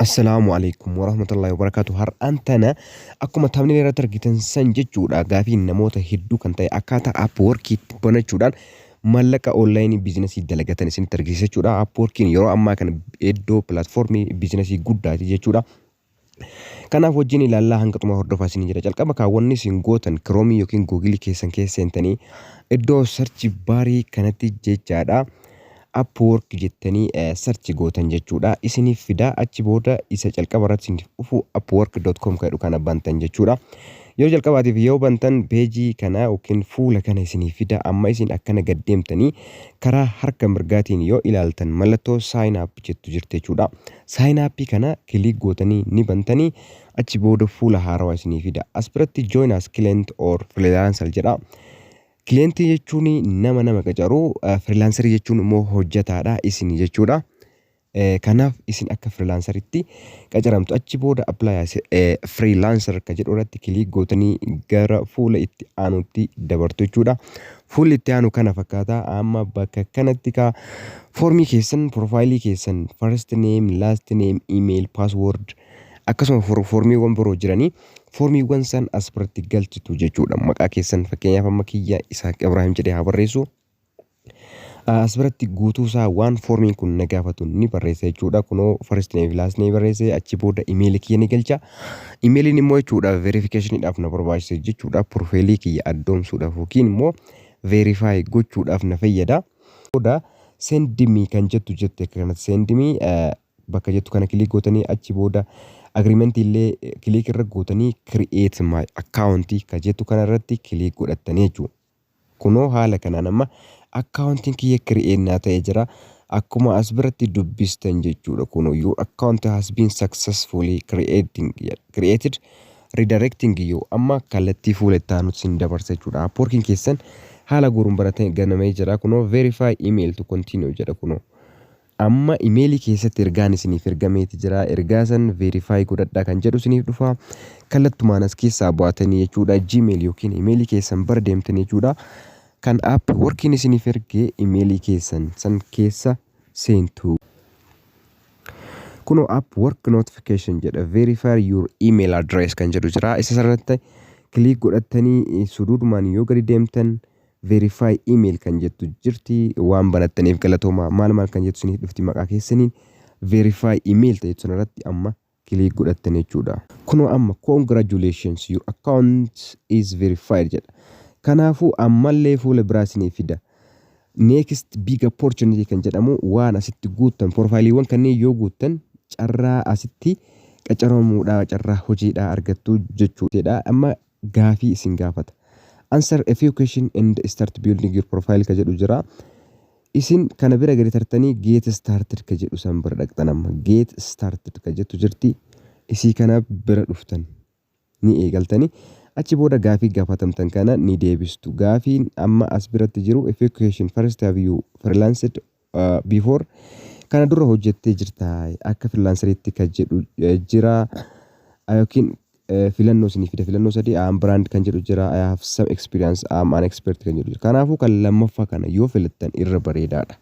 Assalaamu alaikum warahmatullahi wabarakatuh. Har'aan tana akkuma taabnilee irratti argitan san jechuudha gaafiin namoota hedduu kan ta'e akkaataa Upworkiitti banachuudhaan maallaqa onlaayinii biizinasii dalagatan isinitti argisiisa jechuudha. Upworkiin yeroo ammaa kana iddoo pilaatfoormii biizinasii guddaati jechuudha. Kanaaf wajjin ilaallaa hanga xumura hordofaa isin jedha. Calqaba kaawwanni isin gootan kiroomii yookiin googilii keessan keessa seentanii iddoo sarchi baarii kanatti jechaadha. Upwork jettanii sarchi gootan jechuudha. Isiniif fida achi booda isa calqaba irratti isiniif dhufu upwork.com kan jedhu kana bantan jechuudha. Yoo jalqabaatiif yoo bantan peejii kana yookiin fuula kana isiniif fida amma isin akkana gad deemtanii karaa harka mirgaatiin yoo ilaaltan mallattoo sign up jettu jirti jechuudha. Sign up kana click gootanii ni bantanii achi booda fuula haarawa isinii fida. As biratti join as client or freelancer jedha. Client jechuun nama nama qacaru, freelancer jechuun immoo hojjetaadha isin jechuudha. Kanaaf isin akka freelanceritti qacaramtu achi booda apply as freelancer ka jedhu irratti click gootanii gara fuula itti aanutti dabartu jechuudha. Fuulli itti aanu kana fakkaata. Amma bakka kanatti kaa foormii keessan, piroofaayilii keessan, first name, last name, email, password akkasuma for- foormiiwwan biroo jiranii foormiiwwan san as biratti galchitu jechuudha. Maqaa keessan fakkeenyaaf amma kiyya Isaaq Ibraahim jedhee haa barreessu. Ah, As biratti guutuu isaa waan foormiin kun na gaafatu ni barreessa jechuudha. Kunoo first name fi last name barreesse achi booda email kiyya ni galcha. Imeeliin immoo jechuudha verifikashiniidhaaf na barbaachisa jechuudha. Pirofeelii kiyya addoomsuudhaaf yookiin immoo verifaayi gochuudhaaf na fayyada. Booda sendimii kan jettu jette akka kanatti sendimii bakka jettu kana kiliik gootanii achi booda agiriimentii illee kiliik irra gootanii kiri'eet maay akkaawuntii kan jettu kana irratti kiliik godhattanii jechuudha. Kunoo haala kanaan amma account kiyya create naa ta'e jira. Akkuma as biratti dubbistan jechuudha kunoo your account has been successfully creating created redirecting you amma kallattii fuula itti aanutti sin dabarsa jechuudha. Upworking keessan haala guuruun baratee ganamee jira kunoo verify email to continue jedha kunoo. Amma email keessatti ergaan isiniif ergameeti jira. Ergaa san verify godhadhaa kan jedhu isiniif dhufa. Kallattumaan as keessaa bu'atanii jechuudha. Gmail yookiin email keessan bara deemtanii jechuudha. Kan app workiin isiniif erge email keessan san keessa seentu. Kunoo app work notification jedha. Verify your email address kan jedhu jira. Isa sanarratti click godhattanii suduudumaan yoo gadi deemtan Verify email kan jettu jirti waan banattaniif galatoomaa maal maal kan jettu isiniif dhufti maqaa keessaniin verify email ta'etu sanarratti amma click godhattan jechuudha. Kunoo amma congratulations your account is verified jedha. Kanaafuu ammallee fuula biraa isiniif fida. Next big opportunity kan jedhamu waan asitti guuttan profaayiliiwwan kanneen yoo guuttan carraa asitti qacaramuudhaa carraa hojiidhaa argattu jechuudha. Amma gaafii isin gaafata. Answer a few question and start building your profile ka jedhu jira. Isin kana bira gadi tartanii get started ka jedhu san bira dhaqxan amma. Get started ka jettu jirti. Isii kana bira dhuftan. Ni eegaltani. Achi booda gaafii gaafatamtan kana ni deebistu. Gaafiin amma as biratti jiru a few question first have you freelanced before kana dura hojjettee jirta akka freelanceriitti kan jedhu eh, jira Ah, yookiin eh, filannoo isinii fida filannoo sadii am brand kan jedhu jira I have some experience am an expert kan jedhu jira kanaafuu kan lammaffaa kana yoo filattan irra bareedaadha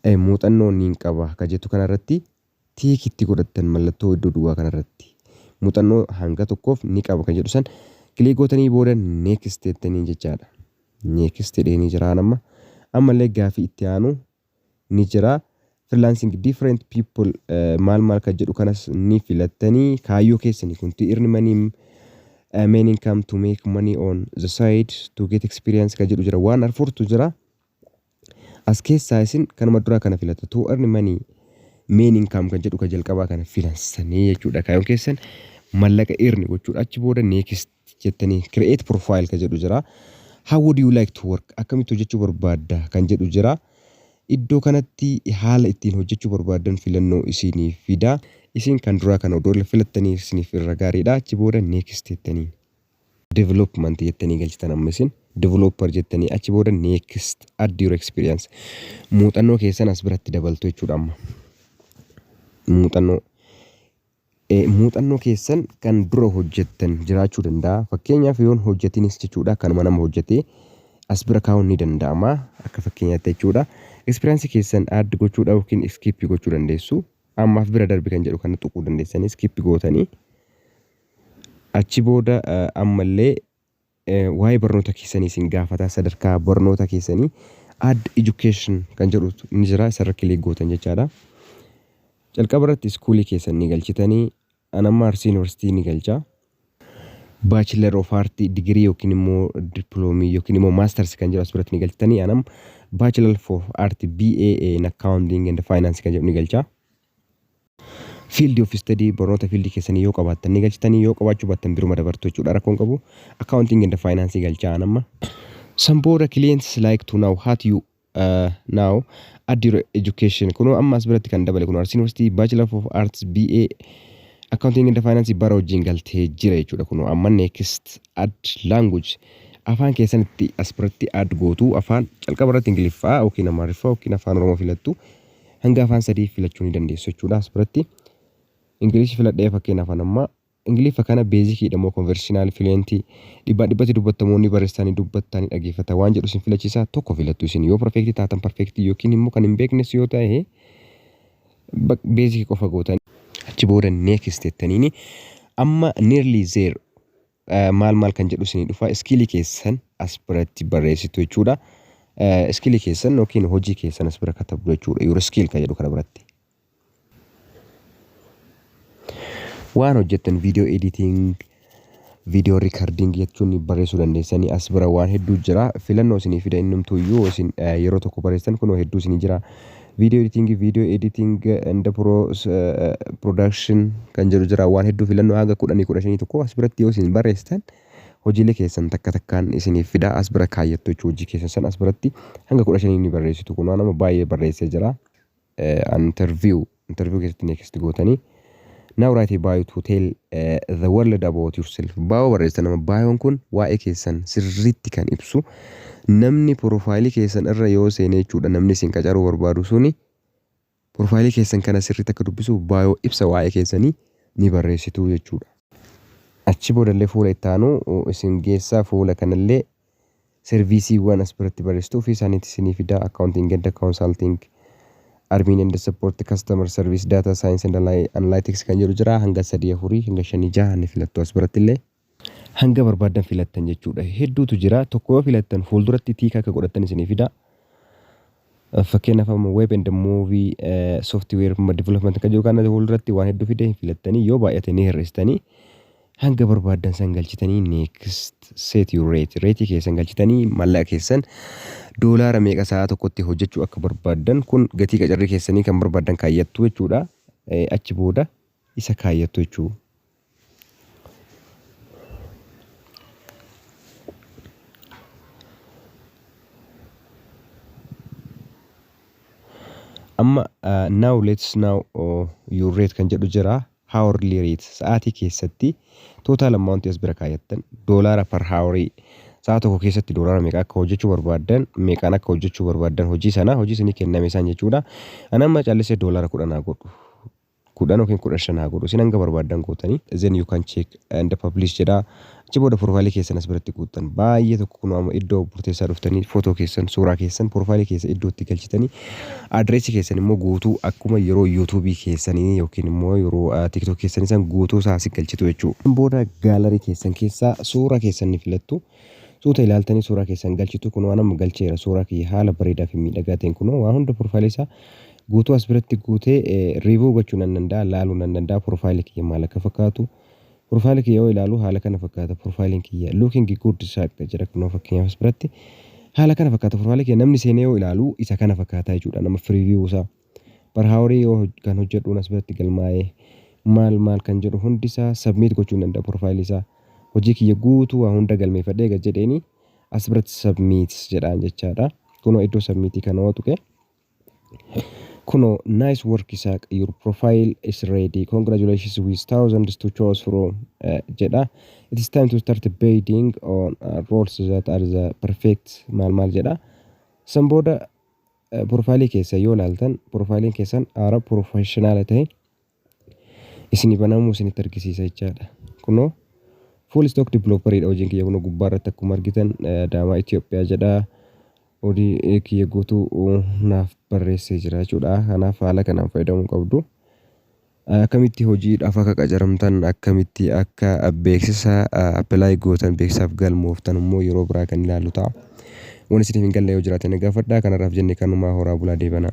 Eh, muuxannoo niin qaba kan jettu kanarratti tick itti godhattan mallattoo iddoo duwwaa kanarratti muuxannoo hanga tokkoof ni qaba kan jedhu san click gootanii booda next jettanii jechaadha. Next jedheenii jiraan amma. Ammallee gaafii itti aanu ni jira. Freelancing different people maal maal kan jedhu kanas ni filattanii kaayyoo keessanii kun to earn money main income to make money on the side to get experience kan jedhu jira waan arfurtu jira. As keessaa isin kanuma duraa kana filatu. To earn money, main income kan jedhu ka jalqabaa kana filansanii jechuudha. Kaayoon keessan mallaqa earn gochuudha. Achi booda next jettanii create profile ka jedhu jira. How would you like to work? Akkamitti hojjechuu barbaadda kan jedhu jira. Iddoo kanatti haala ittiin hojjechuu barbaaddan filannoo isiniif fida. Isin kan duraa kana odoo filattanii isiniif irra gaariidha. Achi booda next jettanii. development jettanii galchitan amma isin developer jettanii achi booda next add your experience muuxannoo keessan as biratti dabaltu jechuudha amma muuxannoo Eh, muuxannoo keessan kan dura hojjettan jiraachuu danda'a fakkeenyaaf yoon hojjetinis jechuudha kanuma nama hojjetee as bira kaa'uun ni danda'ama akka fakkeenyaatti jechuudha ekspiriyaansii keessan add gochuudha yookiin iskiippii gochuu dandeessu ammaaf bira darbi kan jedhu kana tuquu dandeessanii iskiippii gootanii Achi booda ammallee waa'ee barnoota keessanii isin gaafata. Sadarkaa barnoota keessanii add education kan jedhu ni jira. Isarra kilik gootan jechaadha. Calqaba irratti iskuulii keessan ni galchitanii. An amma Arsii Yuunivarsiitii ni galcha. Bachelor of Art digirii yookiin immoo diploomii yookiin immoo maasters kan jedhu as biratti ni galchitanii. An amma Bachelor of Art BA in Accounting and Finance kan jedhu ni galcha. Field of study barnoota field keessanii yoo qabaattan ni galchitanii yoo qabaachuu baattan biruma dabartu jechuudha rakkoo hin qabu. Accounting and finance galchaa an amma. San booda clients like to now hat you uh, now add your education kunoo amma as biratti kan dabale kunoo Arsii University Bachelor of Arts BA Accounting and Finance bara wajjin galtee jira jechuudha kunoo amma next add language afaan keessanitti as biratti add gootu afaan calqaba irratti ingiliffaa yookiin amaariffaa yookiin afaan oromoo filattu Hanga afaan sadii filachuu ni dandeessu jechuudha as biratti. Ingilish filadhee fakkeenyaaf an amma Ingiliffa kana beezikiidha moo konversiinaal fileentii dhibbaan dhibbatti dubbatamoo ni barreessaa ni dubbattaa ni dhageeffata waan jedhu isin filachiisaa tokko filattu isin yoo perfeektii taatan perfeektii yookiin immoo kan hin beeknes yoo ta'e beezikii qofa gootan achi booda neekis tettaniini amma nearly zero maal maal kan jedhu isinii dhufa iskiilii keessan as biratti barreessitu jechuudha. Iskiilii keessan yookiin hojii keessan as bira katabdu jechuudha. Your skill kan jedhu kana biratti. Waan hojjettan video editing, video recording jechuun barreessuu dandeessanii as bira waan hedduu jira. Filannoo isinii fida innumtuu iyyuu isin yeroo tokko barreessitan kunoo hedduu isinii jira. video editing video editing and pro production kan jedhu jira waan hedduu filannoo hanga kudhanii kudha shanii tokko as biratti yoo isin barreessitan hojiilee keessan takka takkaan isiniif fida as bira kaayyattu jechuu hojii keessan san as biratti hanga kudha shanii ni barreessitu kun waan amma baay'ee barreessee jira interview interview keessatti next gootanii Now write a bio to tell uh, the world about yourself. Bio barreessita nama. Bioon kun waa'ee keessan sirriitti kan ibsu namni porofaayilii keessan irra yoo seene jechuudha namni isin qacaruu barbaadu suni porofaayilii keessan kana sirriitti akka dubbisuuf bio ibsa waa'ee keessanii ni barreessitu jechuudha. Achi boodallee fuula itti aanu isin geessaa fuula kanallee Serviisiiwwan as biratti barreessitu ofii isaaniitii isinii fida, Accounting and Consulting, Admin and Support, Customer Service, Data Science and Analytics kan jedhu jira. Hanga sadii afurii, hanga shanii jaha ni filattu as biratti illee. Hanga barbaaddan filattan jechuudha. Hedduutu jira. Tokko yoo filattan fuulduratti tiika akka godhattan isinii fida. Fakkeenyaaf amma web and movie software development kan jiru kana fuulduratti waan hedduu fidee hin filattanii yoo baay'ate ni hir'istanii hanga barbaaddan san galchitanii next set your rate reetii keessan galchitanii mallaqa keessan doolaara meeqa sa'a tokkotti hojjechuu akka barbaaddan kun gatii qacarrii keessanii kan barbaaddan kaayyattu jechuudha achi booda isa kaayyattu jechuudha. Amma uh, now let's now uh, your rate kan jedhu jira hourly rate sa'aatii keessatti total amount as bira kaayattan doolaara per hourii sa'a tokko keessatti doolaara meeqa akka hojjechuu barbaaddan meeqaan akka hojjechuu barbaaddan hojii sana hojii isinii kenname isaan jechuudha. Ani amma callisee doolaara kudhan haa godhu kudhan yookiin kudha shan haa godhu isin hanga barbaaddan gootanii then you can check and publish jedha achi booda profile keessan as biratti guuttan baay'ee tokko kunoo amma iddoo murteessaa dhuftanii footoo keessan suuraa keessan profile keessa iddoo itti galchitanii adreessi keessan immoo guutuu akkuma yeroo yuutuubii keessanii yookiin immoo yeroo tiktok keessanii san guutuu isaa asi galchitu jechuudha booda gaalarii keessan keessaa suuraa keessan ni filattu Suuta ilaaltanii suuraa keessan galchitu kunoo an amma galcheera suuraa kiyya haala bareedaa fi miidhagaa ta'een kunoo waa hunda profile isaa guutuu as biratti guutee review gochuu nan danda'a laaluu nan danda'a profile kiyya maal akka fakkaatu profile kiyya yoo ilaalu haala kana fakkaata profile kiyya looking good saaqqa jira kunoo fakkeenyaaf as biratti haala kana fakkaata profile kiyya namni seenee yoo ilaalu isa kana fakkaata jechuudha nama free view isaa Bar haa horii yoo kan hojjedhuun as biratti galmaa'ee maal maal kan jedhu hundi isaa submit gochuu hin danda'a profile isaa hojii kiyya guutuu waa hunda galmeeffadhee gad jedheeni as biratti submit jedhaan jechaadha kunoo iddoo submit kana yoo tuqe kunoo nice work isaaq your profile is ready congratulations with thousands to choose from eh, jedha it is time to start bidding on uh, roles that are the perfect maal maal jedha san booda Profailii keessan yoo ilaaltan profailiin keessan aara professional ta'e isinii banamuu isinitti argisiisa jechaadha. Kunoo full stock developer dha hojiin kiyya kunoo gubbaa irratti akkuma argitan Adaamaa Itoophiyaa jedha. Hojii kiyya guutuu naaf barreessee jira jechuudha. Kanaaf haala kanaan fayyadamuu qabdu. Akkamitti hojiidhaaf akka qacaramtan, akkamitti akka beeksisa apply gootan, beeksisaaf galmooftan immoo yeroo biraa kan ilaallu ta'a. Wanni isiniif hin galle yoo jiraate na gaafadhaa. Kanarraaf jenne kanumaa horaa bulaa deebanaa.